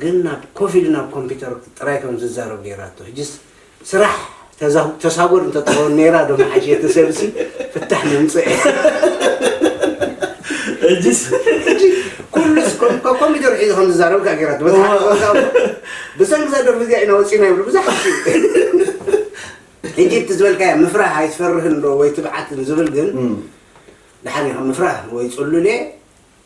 ግን ናብ ኮፍ ኢሉ ናብ ኮምፒተር ጥራይ ከም ዝዛረብ ጌራቶ ሕጂስ ስራሕ ተሳጎድ እንተ ትኸውን ኔራ ዶ ምሓሸ እቲ ሰብሲ ፍታሕ ምምጸኤ ሕጂስ ሕጂ ኩሉስ ኮምፒተር ሒዙ ከም ዝዛረብ ከኣ ጌራቶ በቲ ሓደ ጸወታ እኮ ብሰንኪ እዛ ደርፊ እዚኣ ኢና ወጺእና ይብሉ ብዙሓት ሕጂ እቲ ዝበልካያ ምፍራህ ኣይትፈርህን ዶ ወይ ትብዓትን ዝብል ግን ደሓን እዩ ከም ምፍራህ ወይ ጽሉል እየ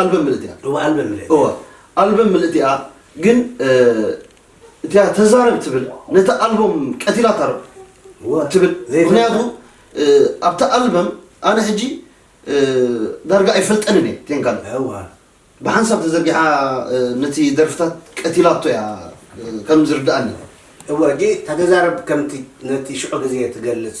ኣልበም ምልእቲ እያ እወ ኣልበም ምልእቲ እወ ኣልበም ምልእቲ እያ ግን እቲያ ተዛረብ ትብል ነቲ ኣልበም ቀቲላታ ዶ ትብል ምክንያቱ ኣብቲ ኣልበም ኣነ ሕጂ ዳርጋ ኣይፈልጠንን እየ ቴን ካልእ ብሓንሳብ ተዘርጊሓ ነቲ ደርፍታት ቀቲላቶ እያ ከም ዝርድኣኒ እወ ጂ ተዛረብ ከምቲ ነቲ ሽዑ ግዜ ትገልጽ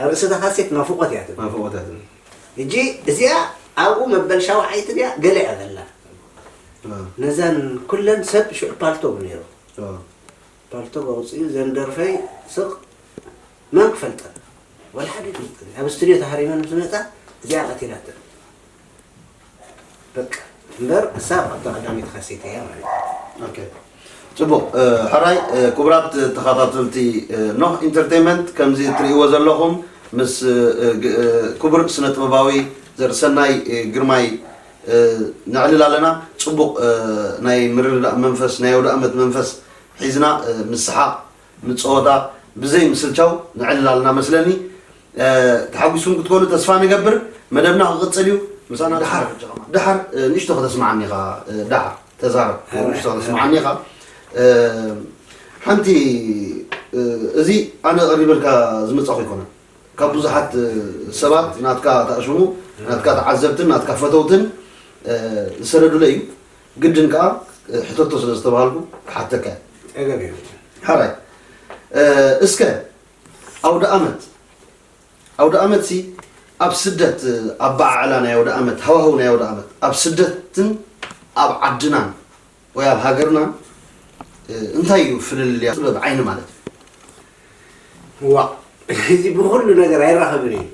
ኣብ ርእሲ እታ ካሴት ናፍቖት እያ ትብል። ናፍቖት እያ ትብል። ሕጂ እዚኣ ኣብኡ መበል ሻውዓይቲ ድያ ገለ እያ ዘላ። ነዘን ኩለን ሰብ ሽዑ ፓልቶግ ነይሩ። ፓልቶግ ኣውፅኡ ዘን ደርፈይ ስቕ መን ክፈልጠን ወላ ሓደ ኣይፈልጠን። ኣብ ስቱድዮ ተሃሪመን ምስ መፃ እዚኣ ቀቲላተን። በቃ እምበር ክሳብ ኣብታ ቀዳመይቲ ካሴት እያ ማለት እዩ። ኦኬ ጽቡቕ ሕራይ ክቡራት ተኸታተልቲ ኖህ ኢንተርቴንመንት ከምዚ እትርእይዎ ዘለኹም ምስ ክቡር ስነ ጥበባዊ ዘርእሰናይ ግርማይ ነዕልል ኣለና ጽቡቕ ናይ ምርድዳእ መንፈስ ናይ ኣውደኣመት መንፈስ ሒዝና ምስ ሰሓቕ ንጸወታ ብዘይ ምስልቻው ንዕልላልና መስለኒ ተሓጉስኩም ክትኮኑ ተስፋ ንገብር መደብና ክቅጽል እዩ ምሳና ድሓር ድሓር ንእሽቶ ከተስማዓኒ ኢኻ ድሓር ተዛረብ ንእሽቶ ከተስማዓኒ ኢኻ ሓንቲ እዚ ኣነ ቀሪበልካ ዝመጻኹ ኣይኮነን ካብ ብዙሓት ሰባት ናትካ ተኣሽሙ ናትካ ተዓዘብትን ናትካ ፈተውትን ዝሰደዱለይ እዩ ግድን ከኣ ሕተቶ ስለ ዝተባሃልኩ ክሓተካ እየ። ጸገም የብሉን። ሐራይ እስከ ኣውደኣመት ኣውደኣመትሲ ኣብ ስደት ኣበዓዕላ ናይ ኣውደኣመት ሃዋህው ናይ ኣውደኣመት ኣብ ስደትን ኣብ ዓድናን ወይ ኣብ ሃገርናን እንታይ እዩ ፍልልያ ጥበብ ዓይኒ ማለት እዩ። ዋእ እዚ ብኹሉ ነገር ኣይራኸብን እዩ።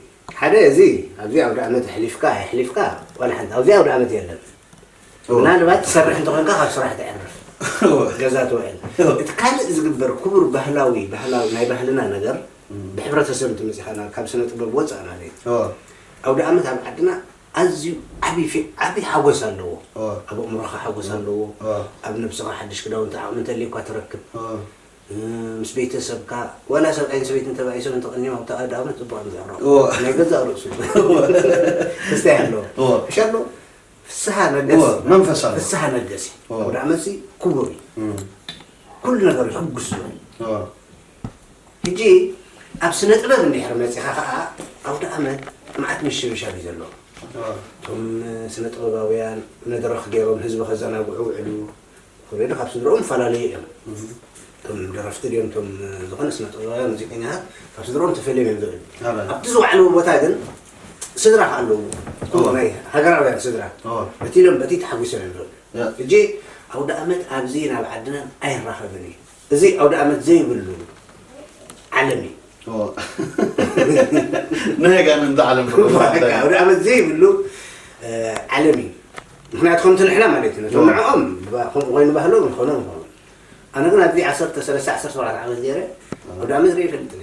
ሓደ እዚ ኣብዚ ኣውደኣመት ኣሕሊፍካ ኣየሕሊፍካ ዋላ ሓንቲ ኣብዚ ኣውደኣመት የለን። ምናልባት ትሰርሕ እንተኾንካ ካብ ስራሕ ትዕርፍ ገዛ ትውዕል እቲ ካልእ ዝግበር ክቡር ባህላዊ ባህላዊ ናይ ባህልና ነገር ብሕብረተሰብ እንትመፅኻና ካብ ስነ ጥበብ ወፃእ ማለት እዩ ኣውደ ኣመት ኣብ ዓድና ኣዝዩ ዓብይ ዓብይ ሓጎስ ኣለዎ ኣብ ኣእምሮኻ ሓጎስ ኣለዎ ኣብ ነብስኻ ሓድሽ ክዳውንቲ ዓቕሚ እንተልዩኳ ትረክብ ምስ ቤተሰብካ ዋላ ሰብኣይን ሰበይትን ተባኢሶም እንተቐኒዮም ኣብቲ ኣውደ ኣመት ፅቡቅ እዮም ዝዕረቑ ናይ ገዛእ ርእሱ ክስታይ ኣለዎ እሻ ኣለዎ ፍስሃ ነገስ መንፈሳዊ ፍስሃ ነገስ ወደ መሲ ክቡር ኩሉ ነገር ሕጉስ ዝብል ሕጂ ኣብ ስነ ጥበብ እንድሕር መፂኻ ከዓ ኣውደ ኣመት መዓት ምሽብሻብ እዩ ዘለዎ እቶም ስነ ጥበባውያን መድረኽ ገይሮም ህዝቢ ከዘናግዑ ውዕሉ ኮሜዲ ካብ ስድርኦም ይፈላለዩ እዮም እቶም ደረፍቲ ድዮም እቶም ዝኾነ ስነ ጥበባውያን ሙዚቀኛታት ካብ ስድርኦም ተፈልዮም እዮም ዝብል ኣበል። ኣብቲ ዝወዓልዎ ቦታ ግን ስድራ ከ ኣለዎ እቶም ኦ። ናይ ሃገራውያን ስድራ ኦ። በቲ ኢሎም በቲ ተሓጒሶም እዮም ዝብል ያ። ሕጂ ኣውደ ኣመት ኣብዚ ናብ ዓድና ኣይራኸብን እዩ እዚ ኣውደኣመት ዘይብሉ ዓለም እዩ። ናይ ኣጋንንቲ ዓለም ኣውደኣመት ዘይብሉ ዓለም እዩ። ምክንያቱ ከምቲ ንሕና ማለት እዩ ነቶም ንዕኦም ከምኡ ኮይኑ ባህሎ ንኾኖ ንኾኑ ኣነ ግን ኣብዚ ዓሰርተ ሰለስተ ዓሰርተ ሸውዓተ ዓመት ገይረ ኣውደኣመት ርኢ ይፈልጥኒ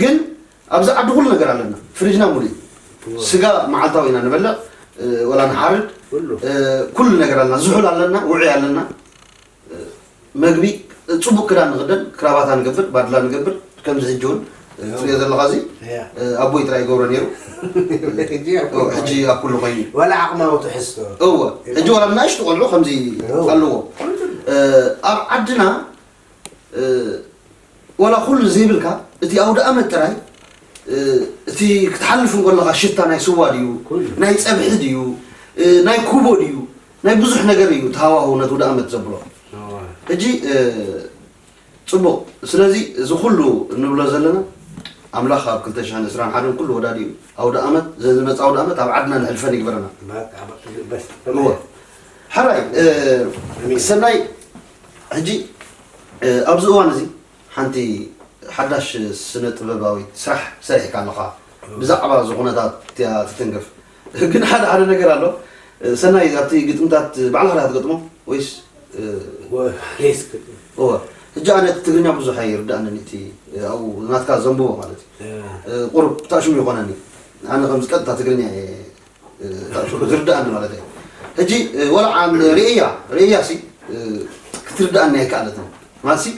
ግን ኣብዚ ዓዲ ኩሉ ነገር ኣለና ፍርጅና ሙሉ እዩ ስጋ መዓልታዊ ኢና ንበልዕ ወላ ንሓርድ ኩሉ ነገር ኣለና ዝሑል ኣለና ውዑይ ኣለና መግቢ ፅቡቅ ክዳን ንክደን ክራባታ ንገብር ባድላ ንገብር ከምዚ ሕጂ እውን ትሪኦ ዘለካ እዚ ኣቦይ ጥራይ ይገብሮ ነይሩ ሕጂ ኣብ ኩሉ ኮይኑ ወላ ዓቕማዊ ትሕዝቶ እወ ሕጂ ወላ ናእሽቱ ቆልዑ ከምዚ ኣለዎ ኣብ ዓድና ዋላ ኩሉ ዘይብልካ እቲ ኣውደኣመት ጥራይ እቲ ክትሓልፍ እንከለኻ ሽታ ናይ ስዋ ድዩ ናይ ጸብሒ ድዩ ናይ ኩቦ ድዩ ናይ ብዙሕ ነገር እዩ ተሃዋህው ነቲ ውደኣመት ዘብሎ ሕጂ ጽቡቕ ስለዚ እዚ ኩሉ እንብሎ ዘለና ኣምላኽ ኣብ 2021 ኩሉ ወዳዲኡ ኣውደኣመት ዘዝመጽእ ኣውደኣመት ኣብ ዓድና ንሕልፈን ይግበረና እወ ሓራይ ሰናይ ሕጂ ኣብዚ እዋን እዚ ሓንቲ ሓዳሽ ስነ ጥበባዊት ስራሕ ሰሪሕካ ኣለኻ ብዛዕባ እዚ ኩነታት እያ ትትንክፍ ግን ሓደ ሓደ ነገር ኣሎ ሰናይ ኣብቲ ግጥምታት ባዕልኻ ዲኻ ትገጥሞ ወይስ እወ ሕጂ ኣነ እቲ ትግርኛ ብዙሕ ኣይርዳእንን እቲ ኣብኡ ናትካ ዘንብቦ ማለት እዩ ቁሩብ ታሽሙ ይኾነኒ ኣነ ከምዚ ቀጥታ ትግርኛ እየ ዝርዳኣኒ ማለት እዩ ሕጂ ወላ ዓም ርእያ ርእያ ሲ ክትርዳኣኒ ኣይከኣለትን ማለት ሲ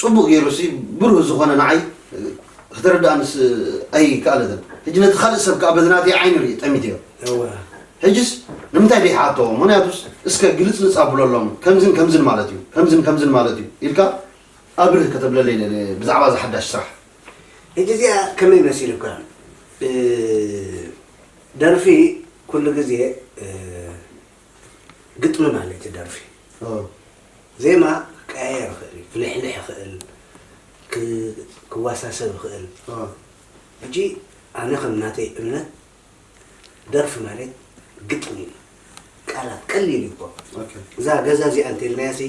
ፅቡቅ ገይሩ ሲ ብሩህ ዝኾነ ንዓይ ክትርዳኣኒ ኣይከኣለትን ሕጂ ነቲ ካልእ ሰብ ከዓ በዚ ናተይ ዓይኒ ርኢ ጠሚትዮ ሕጅስ ንምንታይ ደይሓቶ ምክንያቱስ እስከ ግልፅልፅ ኣብለሎም ከምዝን ከምዝን ማለት እዩ ከምዝን ከምዝን ማለት እዩ ኢልካ ኣብርህ ከተብለለይ ብዛዕባ ዝሓዳሽ ስራሕ ሕጂ እዚኣ ከመይ መሲሉካ ደርፊ ኩሉ ግዜ ግጥሚ ማለት እዩ ደርፊ ዜማ ክቀያየር ይኽእል እዩ ክልሕልሕ ይኽእል ክዋሳሰብ ይኽእል ሕጂ ኣነ ከም ናተይ እምነት ደርፊ ማለት ግጥሚ እዩ ቃላት ቀሊል እዩ እኮ እዛ ገዛ እዚኣ እንተልናያሲ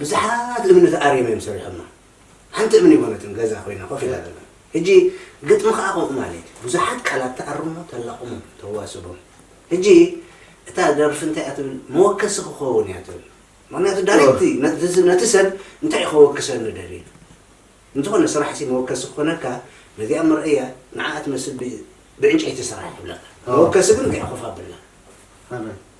ብዙሓት እምነት ኣርዮም እዮም ሰሪሖማ ሓንቲ እምን የኮነትን ገዛ ኮይና ኮፍ ኢላ ዘላ ህጂ ግጥሚ ከኣ ከምኡ ማለት እዩ ብዙሓት ቃላት ተኣርሞ ተላቅሞ ተዋስቦ ህጂ እታ ደርፊ እንታይ እያ ትብል መወከሲ ክኸውን እያ ትብል ምክንያቱ ዳሪክቲ ነቲ ሰብ እንታይ እዩ ከወክሰኒ ደልዩ እንተኾነ ስራሕ ሲ መወከሲ ክኾነካ ነዚኣ መርኣያ ንዓኣ ትመስል ብዕንጨይቲ ስራሕ ይብለካ መወከሲ ግን እንታይ ኮፍ ኣብላ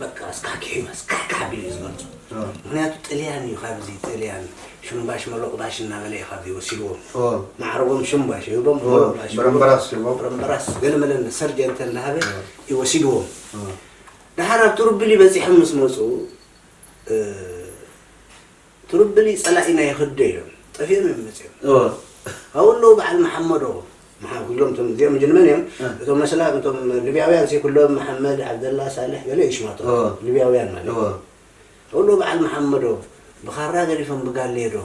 በቃ ኣስካኪዑ ኣስካዕካዕ ኣቢሉ እዩ ዝገልፆ ምክንያቱ ጥልያን እዩ ካብዚ ጥልያን ሽምባሽ መሎቅባሽ እናበለ እዩ ካብዚ ወሲድዎም ማዕረጎም ሽምባሽ ይህቦም መሎቅባሽ ብረምበራስ ይህቦም ብረምበራስ ገለ መለ እንዳ ሰርጀንተ እንዳሃበ እዩ ወሲድዎም ደሓር ኣብ ትሩብሊ በፂሖም ምስ መፁ እ፣ ትርብሊ ጸላኢና ይክዶ ኢሎም ጠፊኦም እዮም መጺኦም ኣብኡ ኣለዉ በዓል መሓመዶ መሓ ኩሎም እቶም እዚኦም ግን መን እዮም እ። እቶም መስላም እቶም ልብያውያን ሲ ኩሎም መሓመድ ዓብደላ ሳልሕ ገለ እዩ ሽማቶም እወ። ልብያውያን ማለት እወ። ኣብኡ ኣለዉ በዓል መሓመዶ ብኻራ ገዲፎም ብጋሌዶ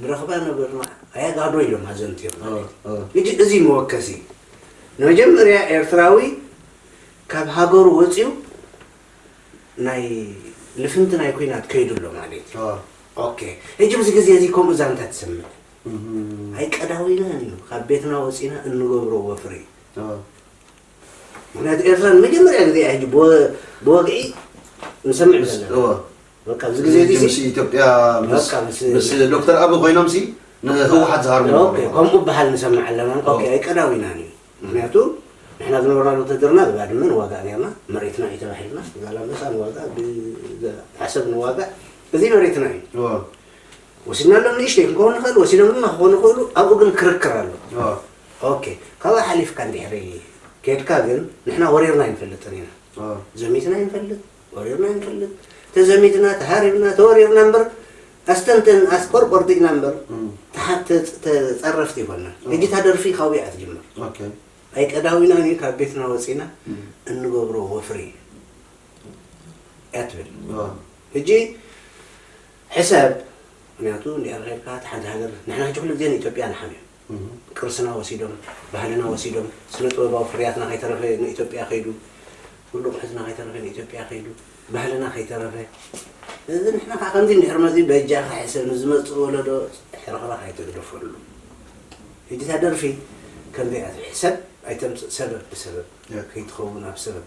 ንረኽባ ነበርና ኣያጋዶ ኢሎም ኣዘንትዮም እወ፣ ማለት እወ። እዩ እጂ እዚ መወከሲ ንመጀመርያ ኤርትራዊ ካብ ሃገሩ ወጺኡ ናይ ልፍንቲ ናይ ኩናት ከይዱ ኣሎ ማለት እዩ ኦኬ ሕጂ ኣብዚ ግዜ እዚ ከምኡ ዛንታ ትሰምዕ ኣይቀዳዊናን እዩ ካብ ቤትና ወፂና እንገብሮ ወፍሪ ምክንያቱ ኤርትራ ንመጀመርያ ግዜ እያ ሕጂ ብወግዒ ንሰምዕ ዘለና በቃ ኣብዚ ግዜ እዚ ምስ ኢትዮጵያ ምስ ዶክተር ኣቢ ኮይኖም ሲ ንህወሓት ዝሃርሙ ከምኡ በሃል ንሰምዕ ኣለና ኣይቀዳዊናን እዩ ምኽንያቱ ንሕና ዝነበርናሉ ውትህድርና ብባድመ ንዋጋእ ኔርና መሬትና እዩ ተባሂልናስ ብዛላምበሳ ንዋጋእ ብዓሰብ ንዋጋእ እዚ መሬትና እዩ ወሲድናሎም ንእሽተይ ክንከውን ንኽእል ወሲዶም ድማ ክኾኑ ይኽእሉ ኣብኡ ግን ክርክር ኣሎ ኦኬ ካብኣ ሓሊፍካ እንድሕሪ ኬድካ ግን ንሕና ወሪርና ኣይንፈልጥን ኢና ዘሚትና ይንፈልጥ ወሪርና ኣይንፈልጥ ተዘሚትና ተሃሪብና ተወሪርና እምበር ኣስተንተን ኣስቆር ቆርጢግና እምበር ተፀረፍቲ ይኮና እጅታ ደርፊ ካብኡ እያ ትጅምር ኣይቀዳዊና እዩ ካብ ቤትና ወፂና እንገብሮ ወፍሪ እያ ትብል ሕጂ ሕሰብ ምክንያቱ እንዲኣርካይድካ ሓንቲ ሃገር ንሕና ሕጂ ኩሉ ግዜ ንኢትዮጵያ ንሓምዮም ቅርስና ወሲዶም ባህልና ወሲዶም ስነ ጥበባዊ ፍርያትና ከይተረፈ ንኢትዮጵያ ከይዱ ኩሉ ኣቑሑትና ከይተረፈ ንኢትዮጵያ ከይዱ ባህልና ከይተረፈ እዚ ንሕና ከዓ ከምዚ እንድሕር መዚ በጃኻ ሕሰብ ንዝመፅእ ወለዶ ሕርኽራኽ ኣይተግደፈሉ ሕጂ እታ ደርፊ ከምዚኣ ሕሰብ ኣይተምፅእ ሰበብ ብሰበብ ከይትኸውን ኣብ ሰበብ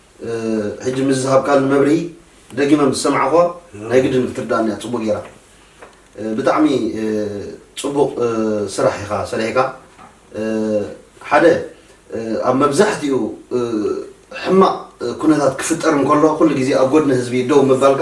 ሕጂ ምስዚ ዝሃብካኒ መብርሂ ደጊመ ምስ ሰማዕኹዋ ናይ ግድን ክትርድኣኒ እያ ጽቡቕ ጌራ። ብጣዕሚ ጽቡቕ ስራሕ ኢኻ ሰሪሕካ። ሓደ ኣብ መብዛሕትኡ ሕማቕ ኩነታት ክፍጠር እንከሎ ኩሉ ግዜ ኣብ ጎድኒ ህዝቢ ደው ምባልካ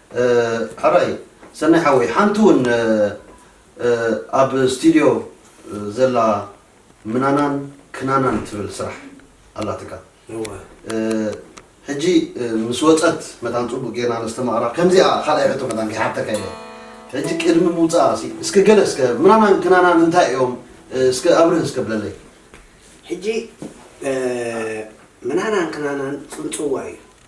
ሕራይ ሰናይ ሓወይ ሓንቲ ውን ኣብ ስቲድዮ ዘላ ምናናን ክናናን ትብል ስራሕ ኣላትካ ሕጂ ምስ ወጸት መታን ጽቡቅ ጌርና ነስተማቅራ ከምዚኣ ካልኣይ ሕቶ መታን ከይሓተካ ኢለ ሕጂ ቅድሚ ምውጻኣ ሲ እስከ ገለ እስከ ምናናን ክናናን እንታይ እዮም እስከ ኣብርህ እስከ ብለለይ ሕጂ ምናናን ክናናን ጽንጽዋ እዩ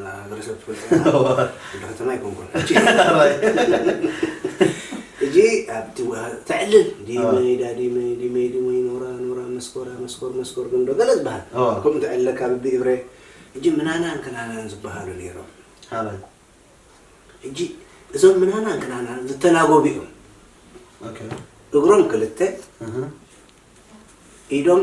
ማሕበረሰብ ትፈልጥ እንደ ከተማ ኣይኮንኩን እጂ ኣብቲ ተዕልል ዲመይ ዳዲመይ ዲመይ ዲመይ ኖራ ኖራ መስኮራ መስኮር መስኮር ግንዶ ገለ ዝበሃል ከምኡ ተዕልለካ ብብእብረ እጂ ምናናን ክናናን ዝበሃሉ ነይሮም ሃበል እጂ እዞም ምናናን ክናናን ዝተላጎቡ እዮም እግሮም ክልተ ኢዶም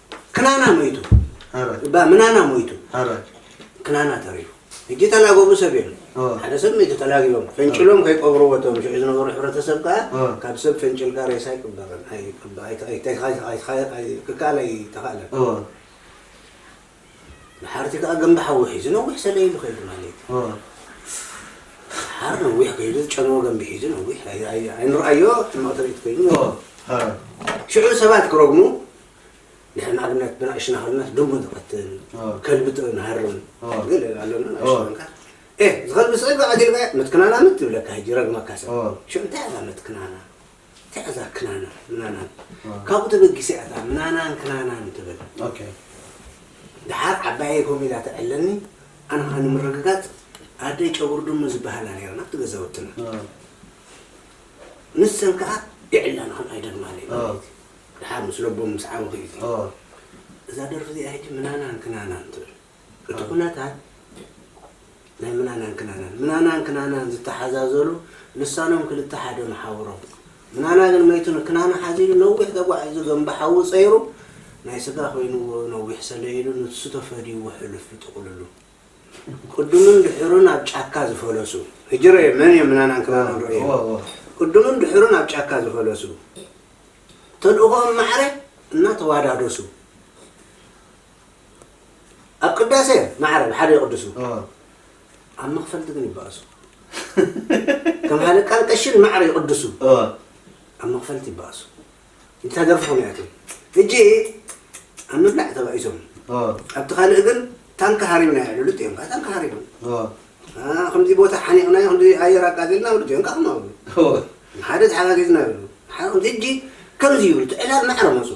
ክናና ሞይቱ እባ ምናና ሞይቱ ክናና ተሪፉ ሕጂ ተላገቡ ሰብ የለን ሓደ ሰብ ሞይቱ ተላጊቦም ፈንጭሎም ከይቀብርዎ እቶም ሽዑ ዝነበሩ ሕብረተሰብ ከዓ ካብ ሰብ ፈንጭልካ ሬሳ ኣይቅበርን ክከኣል ኣይተኸእለን ንሓርቲ ከዓ ገንቢ ሓዊ ሒዙ ነዊሕ ሰለ ኢሉ ከይዱ ማለት ሓር ነዊሕ ከይዱ ዝጨንዎ ገንቢ ሒዙ ነዊሕ ኣይንርኣዮ ሕማቕ ትርኢት ኮይኑ ሽዑ ሰባት ክረግሙ ንሕና ኣብነት ብናእሽና ከለናስ ድሙ ንቐትል ከልቢ ጥሪ ንሃርም ገለ ኣሎና ናእሽቱ ኮንካ ኤ ዝኸልቢ ስዒባ ቀቲልካዮ መትክናና ምት ይብለካ ሕጂ ረግመካ ሰብ ሸ እንታይ እዛ መትክናና እንታይ እዛ ክናና ምናናን ካብኡ ተበጊሰ እያ እታ ምናናን ክናናን ትብል ድሓር ዓባየይ ከምኡ ኢላ ተዕለኒ ኣነ ከዓ ንምርግጋፅ ኣደይ ጨጉሪ ድሙ ዝበሃላ ነይረን ኣብቲ ገዛውትና ንሰን ከዓ ይዕላና ከም ኣይደግማለይ ማለት እዩ ደሓር ምስ ለቦም ምስ ዓበኹ እዩ እዙይ እዛ ደርፊ እዚኣ ሕጂ ምናናን ክናናን ትብል እቲ ኩነታት ናይ ምናናን ክናናን ምናናን ክናናን ዝተሓዛዘሉ ልሳኖም ክልተ ሓደ መሓውሮም ምናና ግን መይቱ ንክናና ሓዚሉ ነዊሕ ተጓዒዙ ገንቢ ሓዊ ፀይሩ ናይ ስጋ ኮይንዎ ነዊሕ ሰለይሉ ንሱ ተፈድይዎ ሕሉፍ ብጥቕልሉ ቅዱምን ድሕሩን ኣብ ጫካ ዝፈለሱ ሕጂ ረዮ መን እዮም ምናናን ክናናን ረዮ ቅዱምን ድሕሩን ኣብ ጫካ ዝፈለሱ ተልእኾኦም ማዕረ እናተዋዳደሱ ኣብ ቅዳሴ ማዕረ ብሓደ ይቕድሱ፣ ኣብ መኽፈልቲ ግን ይባእሱ። ከም ሃለቃን ቀሽን ማዕረ ይቕድሱ፣ ኣብ መኽፈልቲ ይባእሱ። እንታ ደርፊ ከመይ እያ ሕጂ ኣብ ምብላዕ ተባኢሶም፣ ኣብቲ ካልእ ግን ታንካ ሃሪምና የዕልሉጥ እዮም። ታንካ ሃሪሞም ከምዚ ቦታ ሓኒቕናዮ ከምዚ ኣየር ኣቃጺልና ይብሉ እዚኦም ከኣ ከምኡ ይብሉ ንሓደ ተሓጋጊዝና ይብሉ ንሓደ ከምዚ ሕጂ ከምዚ ይብሉ እቲ ዕላል ማዕረ መጹ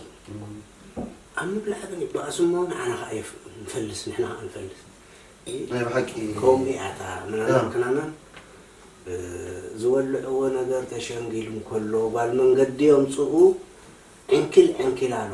ኣብ ምብላዕ ግን ይበኣሱ እሞ ንዓና ከኣ የፍ- ንፈልስ ንሕና ከኣ ንፈልስ ናይ ብሓቂ ከምኡ እያ እታ ምናልባት ክናና እ፣ ዝወልዕዎ ነገር ተሸንጊሉ እንከሎ ጓል መንገዲ የምጽኡ ዕንኪል ዕንኪል ኣሎ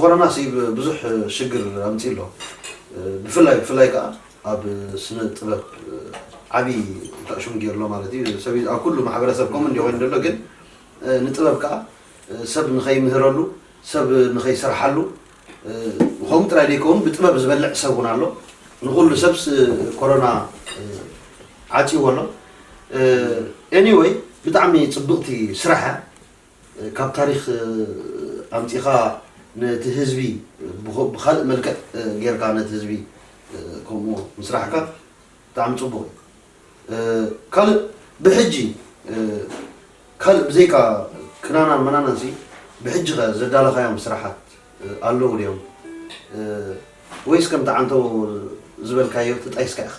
ኮረና ብዙሕ ሽግር ኣምፂኡ ኣሎ ብፍላይ ብፍላይ ከዓ ኣብ ስነ ጥበብ ዓብይ ተዕሽም ገይሩ ኣሎ ማለት እዩ ሰብ ኣብ ኩሉ ማሕበረሰብ ከምኡ እንዲ ኮይኑ ዘሎ ግን ንጥበብ ከዓ ሰብ ንኸይምህረሉ ሰብ ንኸይሰርሓሉ ከምኡ ጥራይ ዘይከውን ብጥበብ ዝበልዕ ሰብ እውን ኣሎ ንኩሉ ሰብስ ኮሮና ዓፅዎ ኣሎ ኤኒወይ ብጣዕሚ ፅብቕቲ ስራሕ እያ ካብ ታሪኽ ኣምጺኻ ነቲ ህዝቢ ብካልእ መልክዕ ጌርካ ነቲ ህዝቢ ከምኡ ምስራሕካ ብጣዕሚ ጽቡቕ እዩ። ካልእ ብሕጂ ካልእ ብዘይካ ክናናን መናናንሲ ብሕጂኸ ዘዳለኻዮም ስራሓት ኣለዉ ድዮም ወይስ ከምቲ ዓንተቦ ዝበልካዮ ተጣይስካ ኢኻ?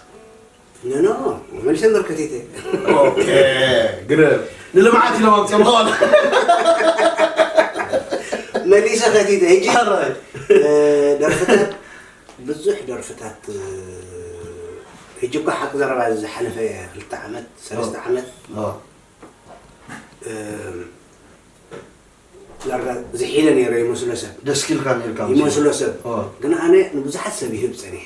ኖ ኖ ወመንሸን በርከቴቴ ኦኬ ግረ ንልምዓት ኢሎም ኣምፅኦምዎ መሊሰ ከቲተ ሕጂ ደርፍታት ብዙሕ ደርፍታት ሕጂ እኳ ሓቂ ዘረባ እዚ ዝሓለፈ ክልተ ዓመት ሰለስተ ዓመት ዳርጋ ዝሒለ ነይረ ይመስሎ ሰብ ደስ ኢልካ ነርካ ይመስሎ ሰብ ግን ኣነ ንብዙሓት ሰብ ይህብ ፀኒሐ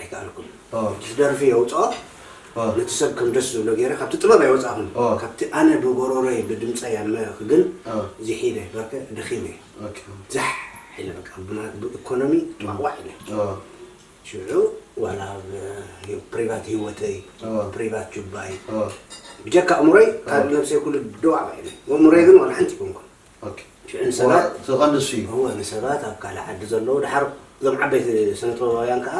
ኣይከኣልኩን እቲ ደርፊ የውጽኦ ነቲ ሰብ ከም ደስ ዝብሎ ገይረ ካብቲ ጥበብ ኣይወጻኹን ካብቲ ኣነ ብጎሮሮይ ብድምጸይ ኣመ ግን ዚሕ ኢለ በርከ ደኺመ ዛሕ ኢለ በቃ ብኢኮኖሚ ጥዋሕዋሕ ኢለ ሽዑ ዋላ ኣብ ፕሪቫት ሂወተይ ፕሪቫት ጁባይ ብጀካ ኣእምሮይ ካልእ ነብሰይ ኩሉ ደዋዕዋዕ ኢለ ኣእምሮይ ግን ዋላ ሓንቲ ኣይኮንኩን ሽዑ ንሰባት ኣብ ካልእ ዓዲ ዘለዉ ደሓር እዞም ዓበይቲ ስነ ጥበባውያን ከኣ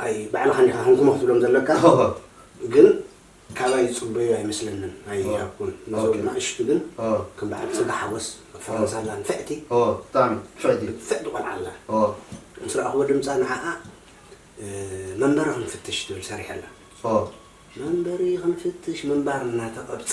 ኣይ ባዕልኻ እንዲኻ ሃንኩሞ ክትብሎም ዘለካ ግን ካባይ ዝጽበዩ ኣይመስለንን ኣይሃብኩን ነዞም ናእሽቱ ግን ከም በዓል ጽጋ ሓጎስ ኣብ ፈረንሳ ኣላ ንፍዕቲ ፍዕቲ ቆልዓ ኣላ ምስ ረኣኹዎ ድምጻ ንዓኣ መንበሪ ክንፍትሽ ትብል ሰሪሐላ መንበሪ ክንፍትሽ ምንባር እናተቐብጸ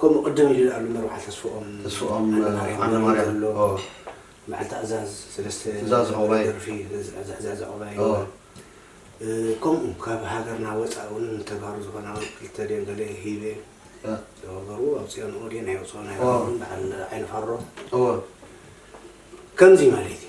ከምኡ ቅድም ኢሉ ዝኣሉ መርዓ ተስፍኦም ተስፍኦም ዓለማርያም ኣሎ በዓል ታእዛዝ ሰለስተ ትእዛዝ ዑቕባይ ደርፊ ትእዛዝ ዑቕባይ ከምኡ ካብ ሃገርና ወፃኢ እውን ንተጋሩ ዝኾና እውን ክልተ ድየን ገለ ሂበ ዝገበሩ ኣውፅኦንኦ ድየን ኣይወፅኦን ኣይረኸቡን በዓል ዓይኒ ፋሮ ከምዚ ማለት እዩ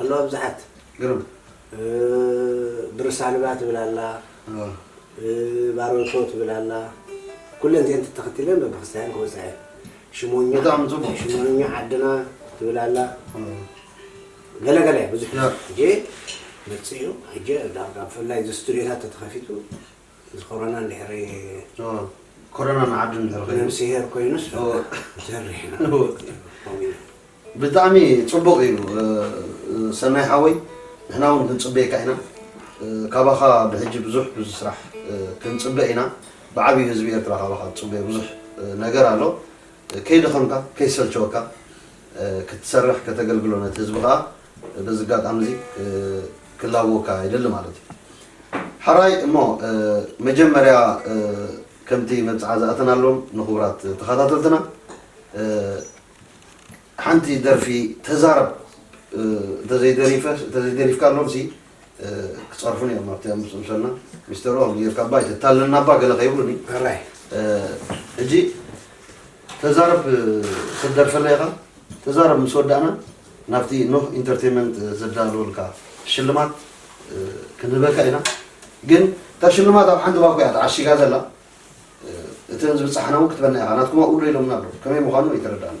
ኣለዋ ብዙሓት ግርም ብርሳንባ ትብል ኣላ ባሮቶ ትብል ኣላ ኩለን እዚኤን ተተኸቲለን በብክስታየን ክወፃ እየን ሽሞኛ ብጣዕሚ ፅቡቅ ሽሞኛ ዓድና ትብል ኣላ ገለ ገለ እያ ብዙሕ ሕጂ መፅኡ ሕጂ ብፍላይ እዚ ስቱድዮታት ተተኸፊቱ እዚ ኮሮና እንድሕሪ ኮሮና ንዓዱ እንድሕሪ ኮይኑ ነብስሄር ኮይኑስ ሰሪሕና ከምኡ ኢና ብጣዕሚ ፅቡቅ እዩ ሰናይ ሓወይ ንሕና እውን ክንፅበየካ ኢና ካባኻ ብሕጂ ብዙሕ ብዙ ስራሕ ክንፅበ ኢና ብዓብዩ ህዝቢ ኤርትራ ካባኻ ዝፅበዮ ብዙሕ ነገር ኣሎ ከይደኸምካ ከይሰልቸወካ ክትሰርሕ ከተገልግሎ ነቲ ህዝቢ ከኣ በዚ ኣጋጣሚ እዚ ክላበወካ ይደሊ ማለት እዩ። ሐራይ እሞ መጀመርያ ከምቲ መብጽዓ ዝኣተናሎም ንኽቡራት ተኸታተልትና ሓንቲ ደርፊ ተዛረብ እንተዘይደሪፍካሎምሲ ክጸርፉኒ እዮም ኣብቲ ምስ ምሰልና ሚስተር ኦም ጌርካ እባ ኣይተታልለና እባ ገለ ከይብሉኒ ሕራይ ሕጂ ተዛረብ ክትደርፈለ ኢኻ ተዛረብ ምስ ወዳእና ናብቲ ኖህ ኢንተርቴንመንት ዘዳለወልካ ሽልማት ክንህበካ ኢና ግን እታ ሽልማት ኣብ ሓንቲ ባኮ እያ ተዓሺጋ ዘላ እተን ዝብፃሕና እውን ክትበና ኢኻ ናትኩማ ኡሎ ኢሎምና ኣሎ ከመይ ምዃኑ ኣይተረዳእና